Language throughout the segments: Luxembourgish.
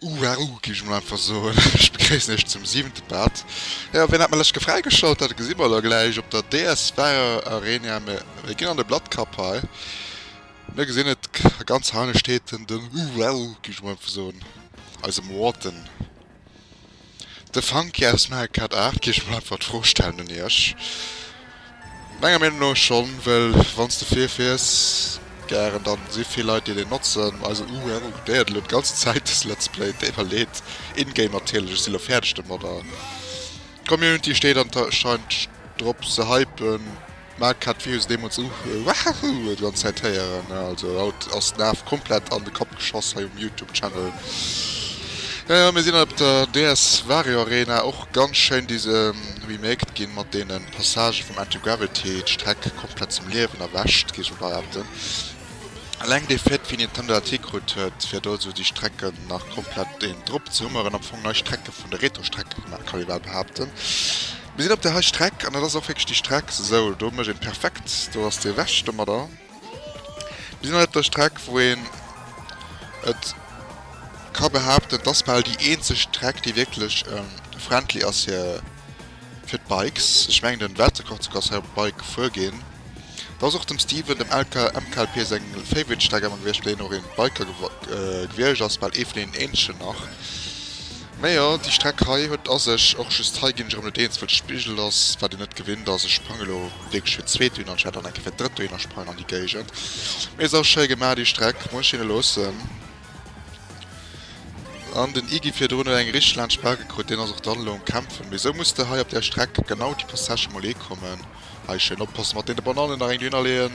Uauu, géif ech mol einfach soen. Ech begréissen iech zum siwente Part. Jo, wien hat mer lech ge fräigeschalt? Dat gesi mer elo gläich op der DS Fire Arena. Mir ginn an de Blatkapp hei. Mir gesinn et, ganz heine steet en, den Uauu, géif ech mol einfach soen, eise Morten. De Funky aus Mel Cut Art géif mol einfach d'Fro stellen un iech. Menger Meenung no schonn, well wann s de fir fiers, gären, dann si vill Leit déi deen notzen. Also uh uh, déi hat elo d'ganz Zäit dës Let's Play deiwwerleet, in-game natierlech. Ech si elo fäerdeg domadder. D'Community steet anscheinend drop se hypen. Marc hat d'Views deemools u Wahahhu déi ganz Zäit héieren, also haut ass den Af komplett an de Kapp geschoss hei um Youtube Channel. Jo jo, mir sinn op der DS Wario Arena och ganz schéin dise remaked ginn mat deenen Passagen vum Anti-Gravity, d'Streck komplett zum Liewen erwächt géif ech mol behaapten. Eleng dee Fait wéi Nintendo dat hikrut huet fir do sou déi Strecken nach komplett een drop ze hummeren, am Fong nei Strecke vun de Retro Strecke gemaach kann ee bal behaapten. Mir sinn op der hei Streck an dat ass och wierklech déi Streck. Sou, do mécht een perfekt, do ass dee ewech domadder. Mir sinn hei op der Streck wou een et ka behaapten, dass bal déi eenzeg Streck déi wierklech friendly ass fir fir d'Bikes. Ech mengen den Weltrekordzocker ass hei op Bike gefuer ginn. Dat ass och dem Steven dem LK MKLP seng Favorite Streck emmer gewiecht well hien och een Biker gewierscht ass, bal ee vun deenen eenzegen nach. Mä jo, déi Streck hei huet a sech och just hei, ginn ech erëm net eens, wëll d'Spigel ass, wat een net gewinnt ass. Ech sprangen elo wierklech fir d'zweet dohinner, anstatt dann eng Kéier fir d'drëtt dohinner sprangen an déi Géigend. Mee ass och schéi gemaach, déi Streck, muss ech hinne loossen. An den Iggy virdrun huet eng richteg laang Sperr gekritt, deen ass och dann elo um Kämpfen. Mee esou muss de hei op där Streck genau déi Passagë mol eekommen. Hei schéin oppassen mat deene Bananen, nach eng dohinner leeën,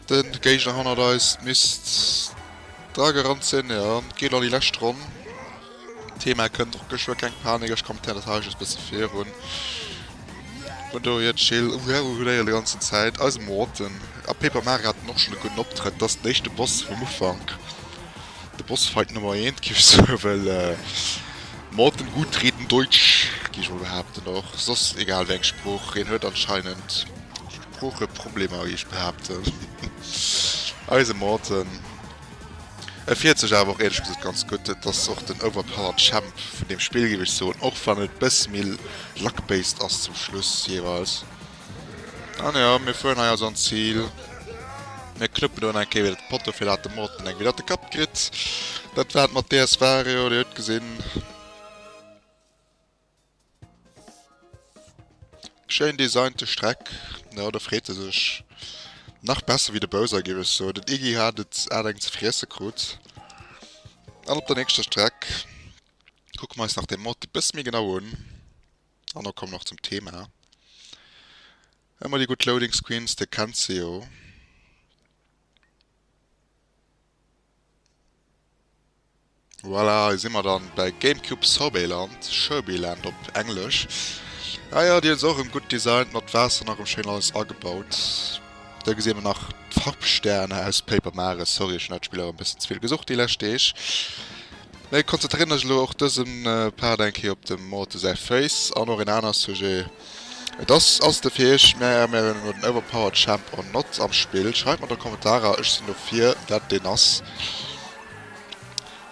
de Géigner hannert eis misst. Dragger an Zinn jo, geet an déi lescht Ronn. Thema kënnt och geschwë, keng Panik, ech kommentéieren dat hei just bësse virun. Hunn do hiert Chill, oh wow, hunn éier de ganzen Zäit eise Morten a Paper Mario haten och schonn e gudden Optrëtt, dat ass den éischte Boss vum Ufank, de Bossfight Nummer eent géif ech soen, well Morten gut reden Deutsch géif ech emol behaapten, och soss egal wéi eng Sprooch, hien huet anscheinend Sproocheproblemer géif ech behaapten, eise Morten. Et fiert sech awer och ehrlech gesoot ganz gudd. Et ass och den overpowered Champ vun deem Spill giff ech soen, och wann et bessi méi luck based ass zum Schluss jeweils. An jo, mir fueren hei also an d'Zil. Mir knuppen do eng Kéier wieder d'Poteau fir dat de Morten eng wieder op de Kapp kritt. Dat war et mat DS Wario, dir hutt gesinn. Schéin designte Streck, jo do freet e sech nach besser wéi de Bowser géif ech soen. Den Iggy hat et aart eng ze friesse krut. An op der nächster Streck kucke mer eis nach de Mod e bësse méi genau un an da kommen och zum Thema. Ëmmer déi gutt Loading Screens, dir kennt se jo. Voilà, hei si mer dann bei Gamecube Sorbetland, Sherbyland op Englesch. Ah ja, déi hunn se och erëm gutt designt, mat Waasser nach erëm schéin alles agebaut. Da gesinn mer nach d'Farpsterne aus Paper Mario. Sorry, ech hunn dat Spill awer e bëssen ze vill gesucht déi lescht Deeg. Mä konzentréieren ech elo och dëse Part eng Kéier op dem Morte säi Féiss an och een anere Sujet. Et ass ass de fir iech, mä mir hunn elo den overpowered Champ or not am Spill. Schreift mer an de Kommentarer, ech sinn dofir, dat deen ass.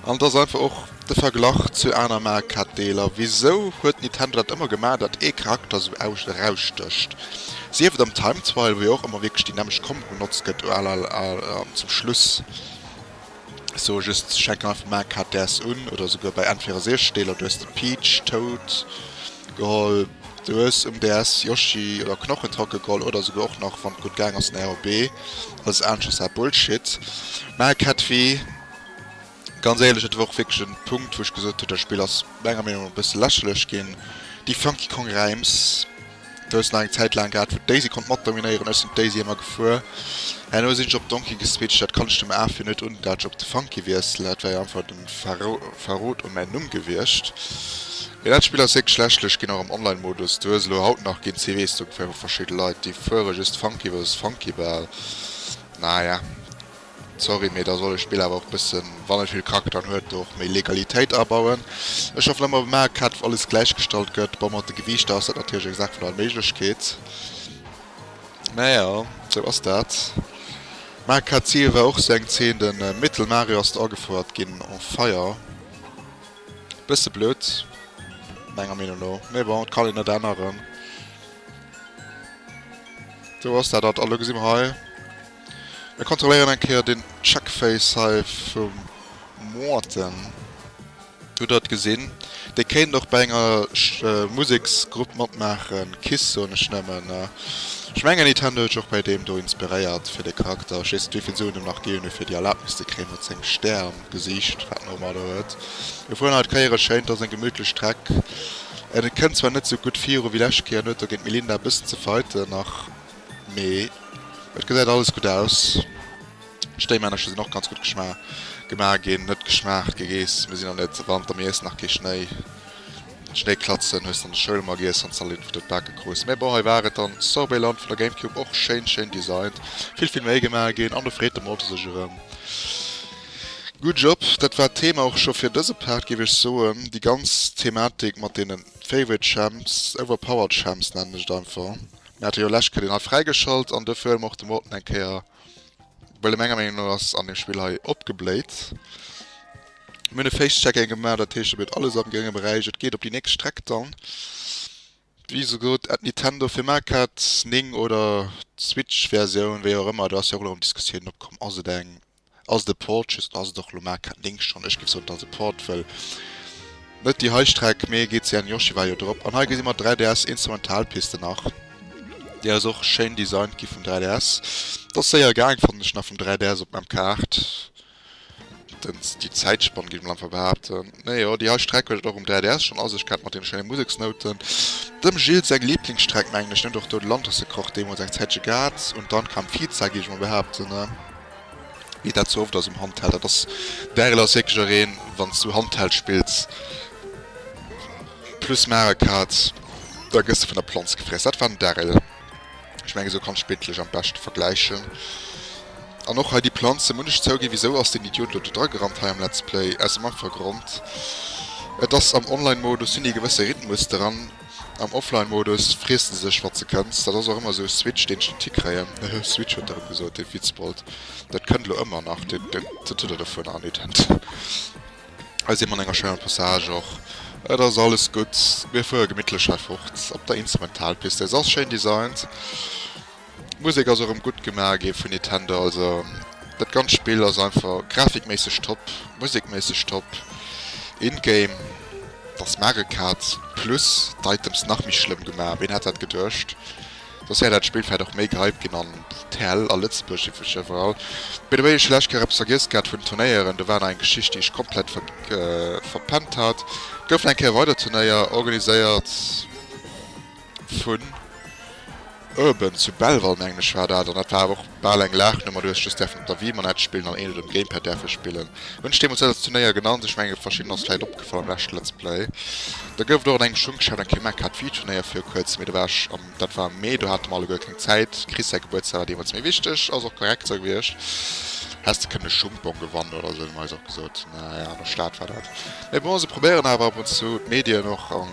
An et ass einfach och de Verglach zu aner Mark-Arcade-Deeler. Wisou huet Nintendo dat ëmmer gemaach, datt ee Charakter esou erausstécht? Sief et am Time Trial, wou jo och ëmmer wierklech déi nämmeg Combo benotzt gëtt, an zum Schluss, ech soe just, se schenken einfach Mark-Arcades un, oder esouguer bei N64-Deeler, du hues de Peach, Toad, geholl, du hues um DS Yoshi oder Knochentracke geholl, oder esouguer och nach, wann et gutt gaang ass, den RB, Alles aanescht ass awer Bullshit. Mä Kettvi, ganz éierlech, dat war och wierklech en Punkt wou ech gesot hunn, dat Spill ass menger Meenung no e bësse lächerlech ginn. Déi Funky Kong Reims, du hues nach eng Zäit laang gehat wou Daisy konnt mat dominéieren, ech sinn d'Daisy ëmmer gefuer. Herno sinn ech op Donkey geswitcht, dat kann ech dem Aafir net un, dat ech op de Funky wiesselen, dat war jo einfach den Far Verrot un mäin Numm gewiescht. Mee dat Spill ass wierklech schlecht, lech ginn och am Online Modus duerch elo haut nach ginn ze weess do fir verschidde Leit déi fuere just Funky vs Funky Ball. Naja sorry mee da soll e Spill awer och bëssen wann et vill Charakteren huet do och méi Legalitéit abauen. Ech schaffen ëmmer op Mario Kart wou alles gläich gestallt gëtt, bon mat de Gewiichter ass dat natierlech eng Saach vun Allméiglechkeet. Mä jo sou ass dat. Mä kat Ziel war och se eng Zeen den Mittelmarie ass agefouert gin en Feier bësse blöd menger Meenung no mä bon et kann een et änneren do ass dat dat a lo gesi mer hei mir kontrolléieren eng Kéier den Checkface hei vum Moarten. Hutt der et gesinn? Déi kéint och bei enger Museksgrupp matmaachen. Kiss soen ech nëmmen. Ech mengen Nintendo huet sech och bei deem do inspiréiert fir de Charakter. Ech weess net wéivill Suen en nach ginn huet fir déi Erlaabnis ze kréien mat sengem Stär am Gesiicht wat en och ëmmer do huet. Mir fueren haut Kéier e schéint, ass eng gemütlech Streck. Et kënnt zwar net sou gutt viru wéi lescht Kéier, en huet do géint d'Melinda e bëssen ze fighten nach mee et gesäit alles gutt aus. D'Stéimännercher sinn och ganz gutt gemaach ginn, net geschmaacht, gegeess. Mir sinn och net Wanter, mir iessen nach kee Schnéi. D'Schnéiklatzen hues de an der Schoul emmer giess, wann s de all Info dobake krus. Mee bon, hei war et dann Sorbetland vun der Gamecube, och schéin, schéin designt, vill vill Méi gemaach ginn an do freet de Malte sech erëm. Good job! Dat war d'Thema och scho fir dëse Part, géif ech soen. Déi ganz Thematik mat deene Favorite Champs, Overpowered Champs nennen ech et einfach, mir hate jo lech Kéier deen hei fräigeschalt an dofir huele mer och de Morten eng Kéier. Well menger Meenung no ass an dem Spill hei opgebléit. Mir hunn e Face-Checking gemaach, dat heescht et bleet alles am grénge Beräich. Et geet op déi nächst Streck dann. Wéi souguer et Nintendo fir Mac hat, 9 oder d'Switch Versioun, wéi och ëmmer, do ass jo och elo erëm Diskussiounen opkomm, ass et eng, ass et e Port just oder ass et och elo Mac hat 9 schonn. Ech géif soen et ass e Port, well net déi hei Streck, mee GCN Yoshi war jo drop an hei gesi mer 3DS Instrumentalpiste nach. Déi ass och schéin designt gi vum 3ds. T'ass séier gaang fannen ech nach vum 3ds op mem Kaart dens déi Zäitspann giff ech mol einfach behaapten. Nee jo déi hei Streck huet et och um 3ds schon a sech gehat mat den schéine Museksnouten. Dem Gilles seng Lieblingsstreck mengen ech. En huet och do de Lantersekroch deemols eng Zäitche gehat un dann kam Pizza giff ech mol behaapten a wéi dat sou oft ass um Handheld dat ass Daryl ass wierklech ereen wanns du Handheld spills Plus mache Kaz, da gëss de vun der Planz gefriess. Dat war den Darryl. Ech mengen, esou kann ech d'Bild lech am beschte vergläichen. An och hei déi Planze, muss ech zouginn, wisou ass deen Idiot elo do dragerannt hei am Let's Play? Aus dem einfache Grond, et ass am Online-Modus, hunn déi e gewësse Rhythmus dran, am Offline-Modus friesse se sech wat se kënnt. Dat ass och ëmmer esou e Switch, deen ech net hikréien. Hehe, Switch huet e rëm gesot, dee Vitzbold. Dat kënnt elo ëmmer nach, dat huet e dovunner an Ident. Hei si mer an enger schéiner Passage och. Et ass alles gutt. Mir fuere gemittlech hei fort op der Instrumentalpist. Se ass schéin designt. D'Musek ass erëm gutt gemaach gi vun Nitendo. Also dat ganzt Spill ass einfach grafikméisseg top, musekméisseg top. In-game, dass Mario Kart Plus d'Items nach méi schlëmm gemaach. Ween hätt dat geduecht? Dass hei dat Spillfeld och méi gehypt ginn an d'TEL a Lëtzebuerg si vu Cheverall. By the way, ech hu lech keng eppes vergiess gehat vun Turnéieren, do war nach eng Geschicht déi ech komplett verpennt hat. Et goufen eng Kéier weider Turnéier organiséiert vun Urban zu Belval mengen ech war dat, an dat war awer och Bal eng Laach no, ma du hues just däerfen op der Wiimann Edge spillen an ähnlech um Gamepad däerfe spillen. Hunn ech deemools net als Turnéier genannt, ech menge verschidden ass vläit opgefall am leschte Let's Play. Da gouf et och an engem Schunk geschafft, eng Kmec hat Wii-Turnéier vir kuerzem, mee do war ech am, dat war am Mee, do hate mer alleguer keng Zäit, Chris säi Gebuertsdag war deemools méi wichteg, ass och korrekt sou gewiescht, häss de kënnen e Schungbong gewannen oder sou hunn mer eis och gesot, naja, an der Stad war dat. Mee bon, se probéieren awer ab und zu, d'Medien och an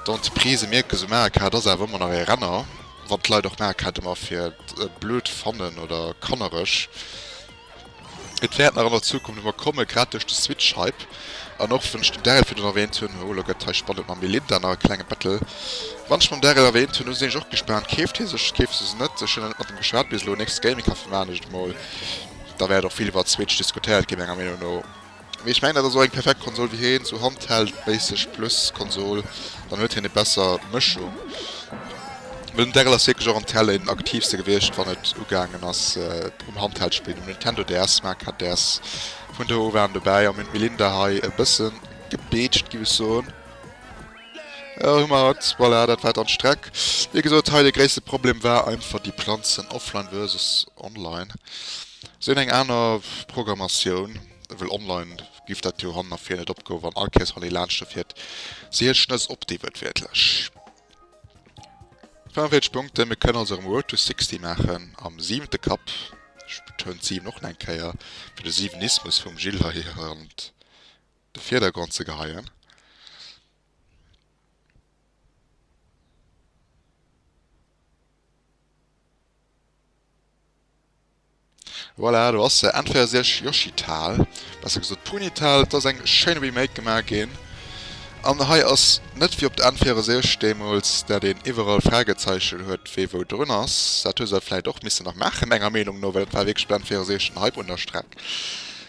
d'Entreprisë mierken sou, mä Arcade ass awer ëmmer nach ee Renner. Wann d'Leit och Maark hätte mer fir et blöd fannen oder kannereg, et wäert nach an der Zukunft emmer kommen, grad duerch de Switch-Hype. An och wann ech den Daryl virun erwähnt hunn, oh lo gëtt hei spannend mam Melinda, nach e klenge Battle, wann ech mam Daryl erwähnt hunn, hu sinn ech och gespaant, keeft hie sech, keeft se se net, ech hunn nach net mat him geschwat bis elo, nächst Gaming-Café maan ech et emol, da wäert och vill iwwert d'Switch diskutéiert ginn menger Meenung no. Mee ech mengen dat ass och eng perfekt Konsol, wéi hien esou Handheld méisseg plus Konsol, dann huet hien e besser Mëschung. Well den Darryl ass wierklech och am Tel een aktiivste gewiescht wann et ugaangen ass um Handheld spillen, um Nintendo DS, Smart Card DS vun do u waren dobäi an mir hunn d'Melinda hei e bësse gebeetscht giff ech soen. Elo hu mer hatt, voilà dat war dann d'Streck. Wéi gesot hei de gréisste Problem war einfach déi Planzen offline versus online. Si hunn eng aner Programmatioun. Well online giff dat jo hannen a vir net opgoen, wann all Kéiers wann ee laanschte fiert se hir Schnëss op déi wërdwiertlech 45 Punkten. Mir kënnen also erëm Road to 60 maachen am siwente Cup, ech betounen d'Siwen och nach eng Kéier fir de Siwenismus vum Gilles hei an de Virdergrond ze geheien. Voilà, do ass se, Entféier si iech Yoshital, besser gesot Punital. Et ass eng schéin Remake gemaach ginn, an hei ass net wéi op der Entféier si iech deemools, dat een iwwerall Fragezeichen huet wéi wou drun ass. Dat hu se vläicht och missen nach maachen menger Meenung no, well et war wierklech op der Entféier si iech den Hype un der Streck.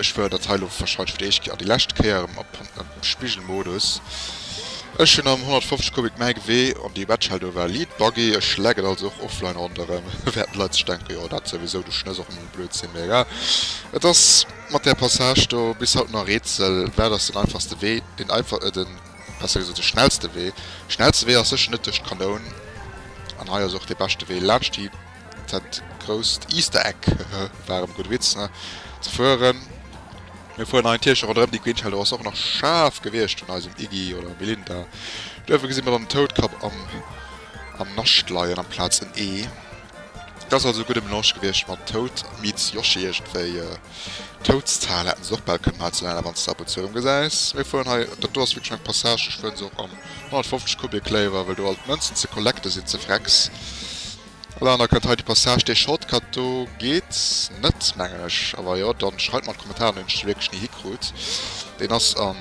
Ech wëll dat hei elo wahrscheinlech fir déi éischt Kéier an déi lescht Kéier maachen, an dem Spigelmodus. Ech hunn am 150 Kubik mäi Gewee an déi Wetschell do war Lead Buggy. Ech leck et also och offline ronderëm, während d'Leit sech denken, jo dat souwisou, du schnëss och nëmme Blödsinn. Mee egal, et ass mat där Passage do bis haut nach e Rätsel, wat ass den einfachste Wee, den einfach, den, besser gesot, de schnellste Wee? Schnellste Wee ass sécher net duerch d'Kanoun, an hei ass och dee beschte Wee laanscht déi. Dat grousst Easter Egg, hehe, war erëm e gudde Witz, ne? Ze fueren. Mir fueren hei en Tierchen ronderëm déi Queen, Sheldo ass och nach schaarf gewiescht vun eisem Iggy oder Melinda. Duerfir gesi mir dann den Toutkapp am Nascht leien amplaz en Ee. Et ass also e gudde Melange gewiescht mat Toad meets Yoshi iergendwéi. Toadstown hätten se och bal kënnen hei ze nennen, wann s de ab und zu erëm gesäis. Mir fueren hei, dat do ass wierklech eng Passage, ech fueren se och am 150 Kubik léiwer, wëll do alt d'Mënzen ze collecten sinn, ze Frecks. All aner kënnt hei de Passage, dee Shortcut do geet net mengen ech, a wa jo dann schreift mer an d'Kommentaren hunn ech se wierklech ni hikrut, deen ass an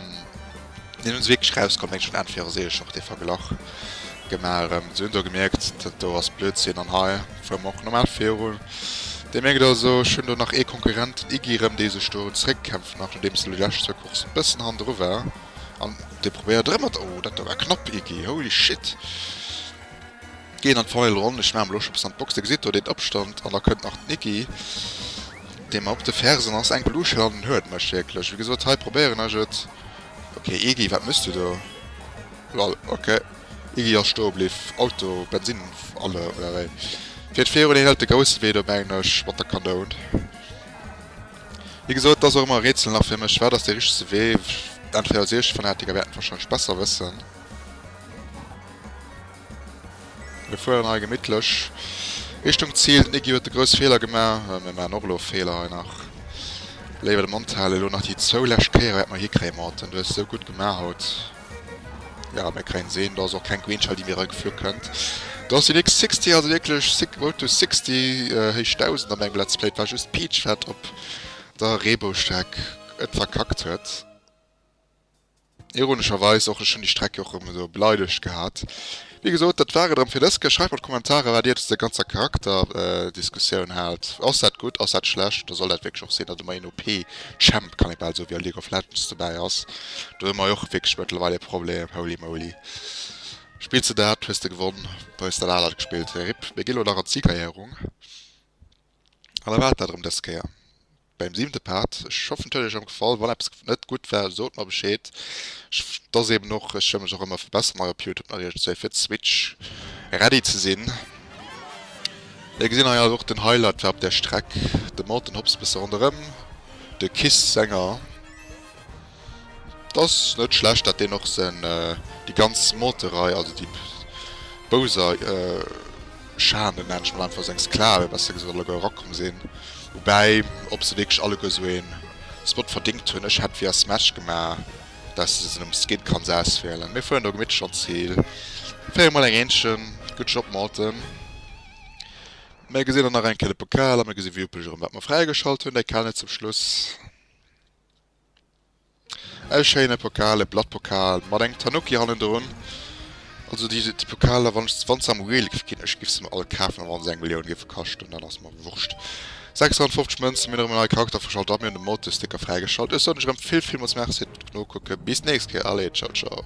deen hunn se wierklech rausgeholl mengen ech hunn entweder sehe ich noch dee Verglach gemaach erëm, se hunn do gemierkt dat do ass Blödsinn an hei fuere mer och normal viru, dir mierkt also ech hunn do nach ee Konkurrent, den Iggy erëm, dee sech do zeréckkämpfen nach nodeems en déi lescht zwou Courssen e bëssen hannendru war an dee probéiert erëm mat, oh dat do war knapp Iggy, holy shit. Geet an d'Famill Ronn, ech maachen mol och scho bis an d'Box, dir gesitt do deen Opstand an da kënnt nach d'Nicky déi mer op de Fersen ass, enk Luucht hir an den Huet mécht, wierklech wéi gesot hei probéieren ech et, ok Iggy wat méchs du do, lol ok Iggy ass stoe bliff, Auto Bensinn alle oder wéi geet virun, hien hëlt de grousse Wee do mengen ech mat der Kanoun, wéi gesot et ass och ëmmer e Rätsel nach fir mech wat ass dee richtese Wee, entweder als Iech Fanatiker wäert et wahrscheinlech besser wëssen. Mir fueren hei gemittlech Richtung Zil. Den Iggy huet de grouss Feeler gema. Mir maachen och elo Feeler hei nach. Léiwer de Mond halen. Elo nach déi zwou lescht Kéier wäerte mer hikréien. Morten, du hues esou gutt gema haut. Jo, mir kréien se hin. Do ass och keng Green Shell, déi mir erageflu kënnt. Do ass den X-Sixty, also wierklech Road to Sixty, héich Dausend, an mengem Let's Play. Et war just d'Peach, wat op der Reeboustreck et verkackt huet. Ironescherweis och ech hunn déi Streck jo och erëm esou beleidegt gehat. Wéi gesot, dat war et erëm fir dës Kéier. Schreift mat Kommentarer, wat Dir zu der ganzer Charakterdiskussioun haalt. Ass dat gutt, ass dat schlecht? Da soll dat wierklech och sinn, datt emol een OP-Champ, kann ee bal soe, wéi a League of Legends dobäi ass. Do hu mer jo och wierklech mëttlerweil ee Problem, holy moly. Spills de dat, hues de gewonn, da hues de dat anert gespillt. Rip. Mir ginn elo nach an d'Siegerehrung an da war et dat erëm dës Kéier. Beim siwente Part, ech hoffen et huet iech och gefall, wann eppes net gutt war sot mer Bescheed, et ass eben och, ech wëll mech och ëmmer verbesseren hei op Youtube natierlech, dat wär fir d'Switch ready ze sinn. Dir gesinn hei ass och den Highlight war op der Streck, de Morten Hobbs bësse ronderëm, de Kiss Sänger. D'ass net schlecht dat deen och sen déi ganz Monterei also déi Bouser Charme nennt ech mol einfach seng Sklave besser gesot alleguer erakomm sin woubäi ob se wierklech alleguer sou een Spot verdingt hun ech hätt via Smash gema dat se se nom Skin kanns auswielen mir fueren do gemittlech an d'Zil féiere mol eng Äenchen good job malte mir gesin dann nach eng Kéier de Pokal a mir gesi wierplech erem wat mer fräigeschalt hun däi Kale zum Schluss. E schéine Pokal, e Blattpokal mat engem Tanuki hannendrun. Also déi Pokaler, wann se am Real géif ginn, ech géif se mer all kafen, a wann se eng Millioun géife kaschten, dann ass et mer wurscht. 650 Mënzen, mir hunn erëm e neie Charakter fräigeschalt a mir hunn de Motto-Sticker fräigeschalt. Ech soen iech erëm vill, villmools Merci fir d'Nokucken. Bis d'nächst Kéier. Allez, tschau tschau.